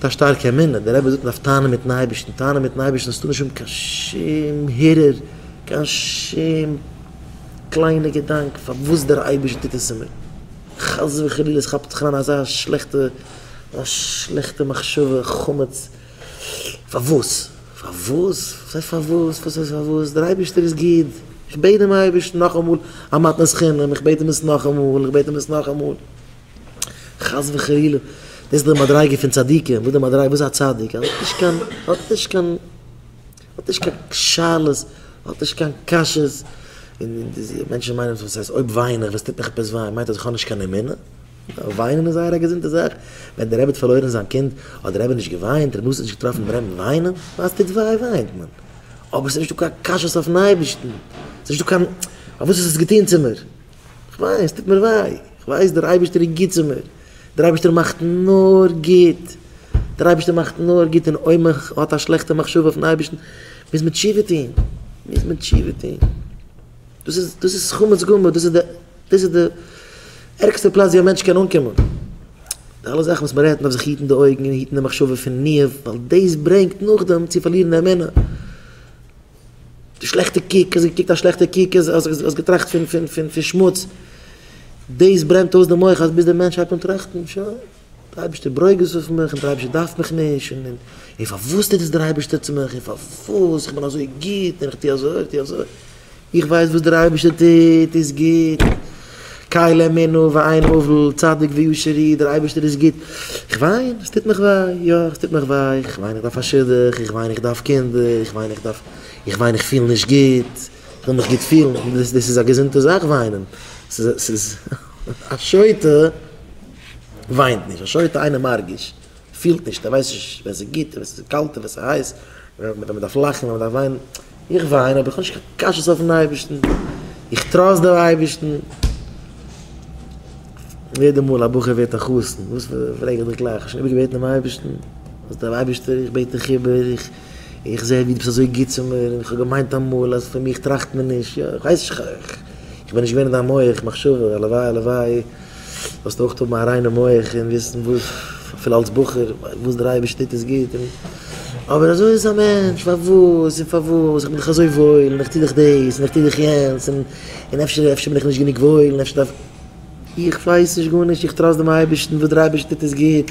מיט א שטארקע אמונה, דער רבי זאגט מ'דארף טענה'ן מיטן אייבערשטן, טענה'ן מיטן אייבערשטן האסטו נישט אן קיין שום הרהור, קיין שום קליינע געדאנק פארוואס דער אייבערשטער טוט עס צו מיר, חס וחלילה עס כאפט זיך אריין אזא שלעכטע א שלעכטע מחשבה, חמץ, פארוואס? פארוואס? וואס הייסט פארוואס? וואס הייסט פארוואס? דער אייבערשטער איז גוט, איך בעט דעם אייבערשטן נאכאמאל א מתנת חינם, איך בעט אים עס נאכאמאל, איך בעט אים עס נאכאמאל. חס וחלילה, דאס איז די מדריגה פון צדיקים, וואס די מדריגה, וואס איז א צדיק, ער האט נישט קיין, האט נישט קיין, האט נישט קיין שאלות, האט נישט קיין קשיות, און די מענטשן מיינען וואס הייסט אויב וויין איך, וואס טוט מיך עפעס וויי, מיינט אז איך האב נישט קיין אמונה? וויינען איז זייער א געזונטע זאך, ווען דער רבי האט פארלוירן זיין קינד, האט דער רבי נישט געוויינט, ר' משה האט נישט געטראפן דעם רמב ם וויינען, ווייל עס טוט וויי וויינט מען, אבער עס איז נישטא קיין קשיות אויפן אייבערשטן, עס איז נישטא קיין, פארוואס האסטו עס געטון צו מיר? כ'ווייס, ס'טוט מיר וויי, כ'ווייס דער אייבערשטער איז גוט צו מיר, דער אייבערשטער מאכט נאר גוט, דער אייבערשטער מאכט נאר גוט און אויב מען האט א שלעכטע מחשבה אויפן אייבערשטן מוז מען תשובה טון, מוז מען תשובה טון, דאס איז, דאס איז חמץ גמור, דאס איז די, דאס איז די ערגסטע פלאץ ווי א מענטש קען אנקומען, די אלע זאכן וואס מען רעדט, מען דארף זיך היטן די אויגן און היטן די מחשבה פון ניאוף, ווייל דאס ברענגט נאכדעם צו פארלירן אמונה. די שלעכטע קוק, האסט געקוקט א שלעכטע קוק, האסט געטראכט פון פון פון פון שמוץ, דאס ברענט אויס די מח אז ביז די מענטש הייבט אן טראכטן, שוין, די אייבערשטער ברוגז אויף מיך און די אייבערשטער דארף מיך נישט, און און און פארוואס טוט דאס דער אייבערשטער צו מיך, און פארוואס, איך בין אזוי גוט, און איך טו אזוי, איך טו אזוי, איך ווייס וואס דער אייבערשטער טוט איז גוט. קאי לע מינו ואין הבל, צדיק וישר היא, דער אייבערשטער איז גוט, איך וויין, עס טוט מיך וויי, יא, עס טוט מיך וויי, איך וויין איך דארף א שידוך, איך וויין איך דארף קינדער, איך וויין איך דארף, איך וויין איך פיל נישט גוט, איך וויל מיך גוט פילן, דאס איז א געזונטע זאך וויינען, ס'איז, א שוטה וויינט נישט, א שוטה אינו מרגיש. פילט נישט, ער ווייסט נישט ווען ס'איז גוט און ווען ס'איז קאלט און ווען ס'איז הייס, ווען מ'דארף לאכן און ווען מ'דארף וויינען. איך וויין אבער איך האב נישט קיין קשיות אויפ'ן אייבערשטן, איך טראסט דעם אייבערשטן. יעדע מאל א בחור ווערט א חתן, וואס פרעג איך דיך גלייך, האסט שוין איבערגעבעטן דעם אייבערשטן? זאגט דער אייבערשטער, איך בעט דיך איבער, איך זע ווי דו ביסט אזוי גוט צו מיר, און איך האב געמיינט אמאל אז פון מיך טראכט מען נישט, יא, איך ווייס, איך בין נישט געווען אין דיין מח מחשבה, הלוואי, הלוואי. זאלסט אויך האבן א ריינע מח און וויסן וואס, אפילו אלס בחור, וואס דער אייבערשטער טוט איז גוט און אבער אזוי איז א מענטש, פארוואס און פארוואס, איך בין דאך אזוי וואויל און איך טו דאך דאס און איך טו דאך יענץ און און אפשר אפשר בין איך נישט גענוג וואויל און אפשר דארף איך ווייס נישט גארנישט, איך טראסט דעם אייבערשטן, וואס דער אייבערשטער טוט איז גוט.